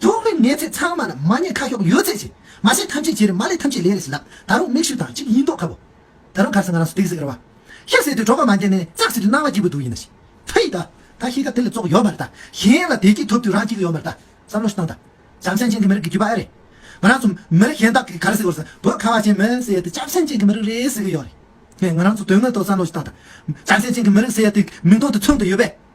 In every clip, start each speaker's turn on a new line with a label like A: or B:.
A: ཐུགས་རེ་ངེས་ཚེ་ཚང་མ་ལ་མ་ཉེས་ཁ་ཤོག་ཡོད་ཚད་བྱེད་མ་བྱེད་ཐམས་ཅད་བྱེད་རེ་མ་ལས་ཐམས་ཅད་ལས་རེ་ཟེར་ལགས་ད་རུང་མིག་ཤུགས་དང་གཅིག་ཡིན་མདོག་ཁ་བོ། ད་རུང་གར་ས་ང་རང་སུ་སྟེགས་ཟེར་བ། ཤ་ཟེར་དུས་གྲོགས་པོ་མ་འགྱེལ་ནས་ཙག་ཟེར་དུས་སྣང་བ་སྐྱིད་པོ་འདུག་ཡིན་ན་ཤི། ཕི་ད། ད་ཤི་ཁ་དེ་ལས་བཙོག་ཡོད་མ་རེད་ད། གཞན་ལ་བདེ་སྐྱིད་ཐོབ་དུས་རང་སྐྱིད་ཀྱི་ཡོད་མ་རེད་ད། བསམ་བློ་ཞིག་བཏང་ད། ལྕམ་ཤ་ཅན་གྱི་མི་རིགས་ཀྱི་རྒྱུད་པ་ཨེ་རེད། ང་རང་ཚོ་མི་རིགས་གཞན་དག་གིས་གར་ས་གོར་ས་བོད་ཁ་བ་ཅན་མི་ཟེར་དུས་ལྕམ་ཤ་ཅན་གྱི་མི་རིགས་རེད་ཟེར་གྱི་ཡོད་རེད། ང་རང་ཚོ་དོན་དངོས་ཐོག་བསམ་བློ་ཞིག་བཏང་ད། ལྕམ་ཤ་ཅན་གྱི་མི་རིགས་ཟེར་དུས་མིང་ཐོག་ཏུ་མཚོན་དུ་ཡོད་པས།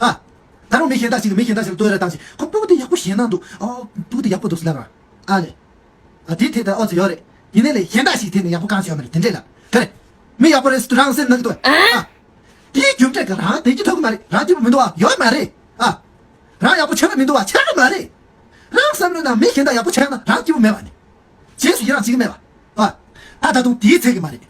A: ཨ། ད་རུང་མི་གཞན་དག་ཅིག་གིས་མི་གཞན་དག་ཅིག་ལ་བསྟོད་ར་བཏང་རྗེས་ཁོ་སྤུ་གུ་དེ་ཡག་པོ་བཞེངས་གནང་འདུག་ཨོ། སྤུ་གུ་དེ་ཡག་པོ་འདུག་ཟེར་ན་འང། ཨ་ལས། ཨ། དེའི་ཐད་ལྟར་ཨོ་ཙི་ཡོད་རེད། ཡིན་ནའི་ལས་གཞན་དག་ཞིག་གི་ཐད་ནས་ཡག་པོ་གང་ཞིག་ཡོད་མ་རེད་དེ་འདྲས་ལ། ག་རེ། མི་ཡག་པོ་རེད་ཟེར་དུས་རང་སེམས་ནང་གི་དོན། ཨ། དེའི་རྒྱུ་འབྲས་ཀྱི་རང་དེ་གྱིས་ཐོབ་གི་མ་རེད་རང་སྐྱིད་པོ་མི་འདུག་ཨ་ཡོད་མ་རེད། ཨ། རང་ཡག་པོ་བྱས་པ་མི་འདུག་ཨ་བྱས་གི་མ་རེད། རང་བསམ་བློའི་ནང་མི་གཞན་དག་ཡག་པོ་བྱས་ན་རང་སྐྱིད་པོ་མེད་པ་ནི། རྗེས་སུ་ཡི་རང་བྱེད་ཀྱི་མེད་པ། བ། ད་ད་དུང་དེའི་ཚད་ཀྱི་མ་རེད།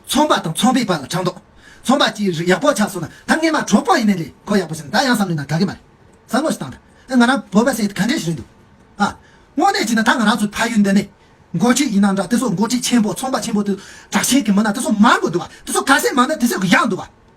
A: ཚོང་པ་དང་ཚོང་པའི་བར་ལ་དྲང་ལྡོག། ཚོང་པ་གྱིས་རིགས་ཡག་པོ་ཆགས་སོང་ན་ད་སྔས་མ་གྲོགས་པོ་ཡིན་ནའི་ལས་གོ་ཡག་པོ་བྱས་ན་ད་ཡང་བསམ་བློའི་ནང་དགའ་གི་མ་རེད། བསམ་བློ་ཞིག་བཏང་ད། ང་རང་བོད་པ་ཟེར་ག་འདྲས་ཞིག་རེད་འདུག། བ། དངོས་གནས་བྱས་ན་ད་ང་རང་ཚོའི་ཕ་ཡུལ་འདི་ནས། འགོ་ཁྲིད་ཡིན་ན་འདྲ་དེ་ཚོ་འགོ་ཁྲིད་ཆེན་པོ་ཚོང་པ་ཆེན་པོ་དེ་ཚོ་དྲག་ཞན་གྱི་མི་སྣ་དེ་ཚོ་མང་པོ་འདུག་བ་དེ་ཚོ་ག་ཟེ་མང་ན་དེ་ཚོས་གི་ཡག་འདུག་བ།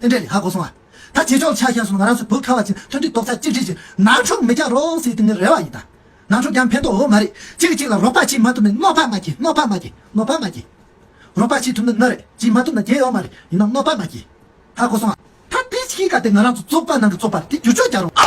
A: རྟེན་འབྲེལ་ལས་ཧ་གོ་སོང་ཨ། ད་རྗེས་ཕྱོགས་ཆ་ཤས་སུ་ང་རང་ཚོའི་བུ་ཁ་བ་ཅན་མཐུན་སྒྲིལ་རྡོག་རྩ་གཅིག་སྒྲིལ་གྱིས་ནང་འཁྲུག་མི་རྒྱག་རོགས་ཟེར་དེ་ནི་རེ་བ་ཡིན་ད། ནང་འཁྲུག་རྒྱག་ཕན་ཐོགས་འོ་མ་རེད་གཅིག་གིས་གཅིག་ལ་རོགས་པ་བྱེད་མ་ཐུབ་ནས་གནོད་པ་མ་གྱིས་གནོད་པ་མ་གྱིས་གནོད་པ་མ་གྱིས། རོགས་པ་བྱེད་ཐུབ་ན་ན་རེད་བྱེད་མ་ཐུབ་ན་རྒྱལ་ཡོག་མ་རེད་ཡིན་ན་གནོད་པ་མ་གྱིས་ཧ་གོ་སོང་ཨ། ད་དེ་གཞིས་ཀ་དེ་ང་རང་ཚོ་བཙོག་པ་ནང་གི་བཙོག་པ་རེད་དེ་བསྒྱུར་
B: བཅོས་རྒྱག་
A: རོགས།